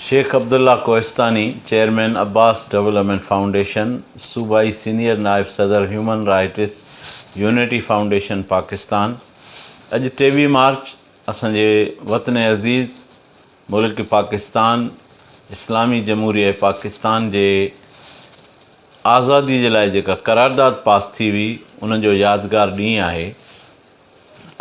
Shaikh Abdullah Kohistani, chairman Abbas development foundation, صوبائي senior نائب صدر human rights unity foundation Pakistan, اڄ ٽيويهه مارچ اسان جي وطن عزيز ملڪ پاڪستان اسلامي جمهوريه پاڪستان جي آزادي جي لاء جيڪا قرارداد پاس ٿي هئي ان جو يادگار ڏينهن آهي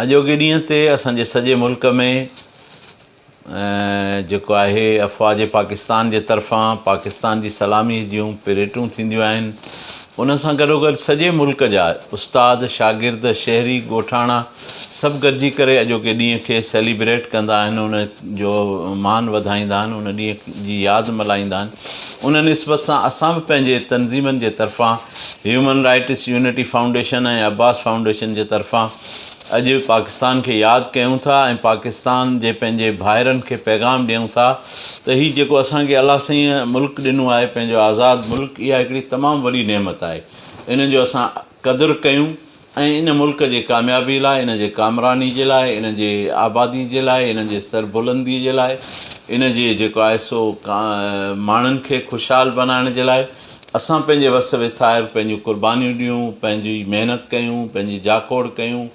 اڄوڪي ڏينهن تي اسان جي سڄي ملڪ ۾ جيڪو آهي افواج پاڪستان جي طرفان پاڪستان جي سلامي جون پريٽون ٿينديون آهن ان سان گڏوگڏ سڄي ملڪ جا استاد شاگرد شهري ڳوٺاڻا سڀ گڏجي ڪري اڄوڪي ڏينهن کي سيليبريٽ ڪندا آهن ان جو مان وڌائيندا آهن ان ڏينهن جي ياد ملهائيندا آهن ان نسبت سان اسان به پنهنجي تنظيمن جي طرفان human rights unity foundation ۽ Abbas foundation جي طرفان اڄ پاڪستان کي ياد ڪيون ٿا ۽ پاڪستان جي پنهنجي ڀائرن کي پيغام ڏيون ٿا ته هي جيڪو اسان کي الله سائين ملڪ ڏنو آهي پنهنجو آزاد ملڪ اها هڪڙي تمام وڏي نعمت آهي ان جو اسان قدر ڪيون ۽ ان ملڪ جي ڪاميابي لاء ان جي ڪامراني جي لاء ان جي آبادي جي لاء ان جي سربلندي جي لاء ان جي جيڪو آهي سو ماڻهن کي خوشحال بنائڻ جي لاء اسان پنهنجي وس ويٿائر پنهنجون قربانيون ڏيون، پنهنجي محنت ڪيون، پنهنجي جاکوڙ ڪيون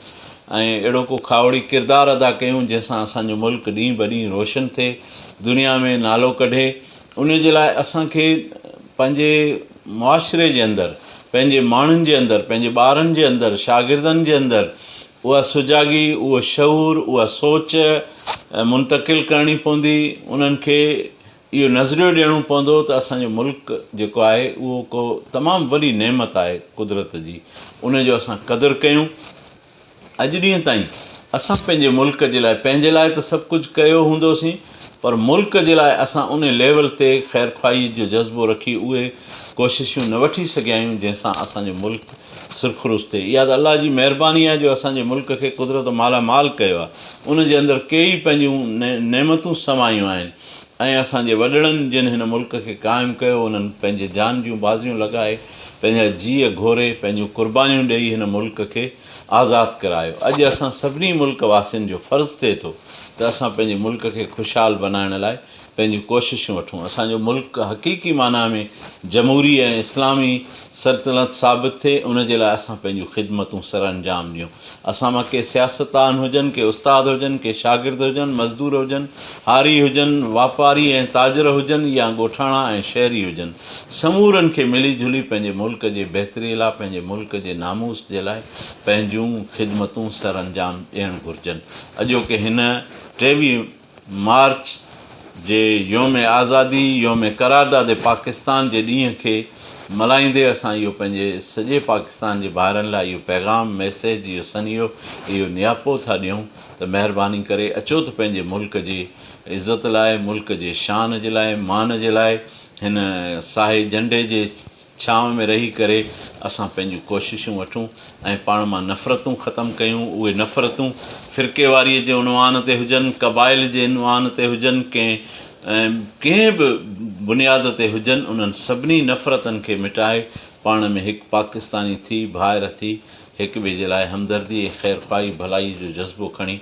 ۽ اهڙو ڪو کاهوڙي ڪردار ادا ڪيون جنهن سان اسان جو ملڪ ڏينهن بڏينهن روشن ٿئي، دنيا ۾ نالو ڪڍي. ان جي لاء اسان کي پنهنجي معاشري جي اندر، پنهنجي ماڻهن جي اندر، پنهنجي ٻارن جي اندر، شاگردن جي اندر اها سجاڳي، اهو شعور، اها سوچ منتقل ڪرڻي پوندي، انهن کي اهو نظريو ڏيڻو پوندو ته اسان جو ملڪ جيڪو آهي اهو ڪو تمام وڏي نعمت آهي قدرت جي ان جو اسان قدر ڪيون اڄ ڏينهن تائين اسان پنهنجي ملڪ جي لاء پنهنجي لاء ته سڀ ڪجهه ڪيو هوندوسين پر ملڪ جي لاء اسان ان ليول تي خير خواهي جو جذبو رکي اهي ڪوششون نه وٺي سگهيا آهيون جنهن سان اسان جو ملڪ سرخروش ٿئي اها ته الله جي مهرباني آهي جو اسان جي ملڪ کي قدرت مالا مال ڪيو آهي ان جي اندر ڪيئي پنهنجون نعمتون سمايون آهن ۽ اسان جي وڏڙن جن هن ملڪ کي قائم ڪيو انهن پنهنجي جان جون بازيون لڳائي پنهنجا جيء گهوري پنهنجون قربانيون ڏئي هن ملڪ کي آزاد ڪرايو اڄ اسان سڀني ملڪ واسين جو فرض ٿئي ٿو ته اسان پنهنجي ملڪ کي خوشحال بنائڻ لاء پنهنجون ڪوششون وٺون اسان جو ملڪ حقيقي معنيٰ ۾ جمهوري ۽ اسلامي سلطنت ثابت ٿئي ان جي لاء اسان پنهنجون خدمتون سرانجام ڏيون اسان مان ڪي سياستدان هجن، ڪي استاد هجن، ڪي شاگرد هجن، مزدور هجن، هاري هجن، واپاري ۽ تاجر هجن يا ڳوٺاڻا ۽ شهري هجن، سمورن کي ملي جلي پنهنجي ملڪ جي بهتري لاء، پنهنجي ملڪ جي ناموس جي لاء پنهنجون خدمتون سرانجام ڏيڻ گهرجن. اڄوڪي هن ٽيوي. مارچ جي يوم آزادي، يوم قرارداد پاڪستان جي ڏينهن کي ملهائيندي اسان اهو پنهنجي سڄي پاڪستان جي ڀائرن لاء اهو پيغام، ميسيج، اهو سنيهو، اهو نياپو ٿا ڏيون ته مهرباني ڪري اچو ته پنهنجي ملڪ جي عزت لاء، ملڪ جي شان جي لاء، مان جي لاء، هن ساهي جهنڊي جي ڇانو ۾ رهي ڪري اسان پنهنجون ڪوششون وٺون ۽ پاڻ مان نفرتون ختم ڪيون اهي نفرتون فرقيواريء جي عنوان تي هجن قبائل جي عنوان تي هجن ڪنهن ڪنهن به بنياد تي هجن انهن سڀني نفرتن کي مٽائي پاڻ ۾ هڪ پاڪستاني ٿي ڀائر ٿي هڪ ٻئي جي لاء همدردي ۽ خيرخواهي ڀلائي جو جذبو کڻي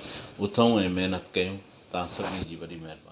اٿئون ۽ محنت ڪيون توهان سڀني جي وڏي مهرباني.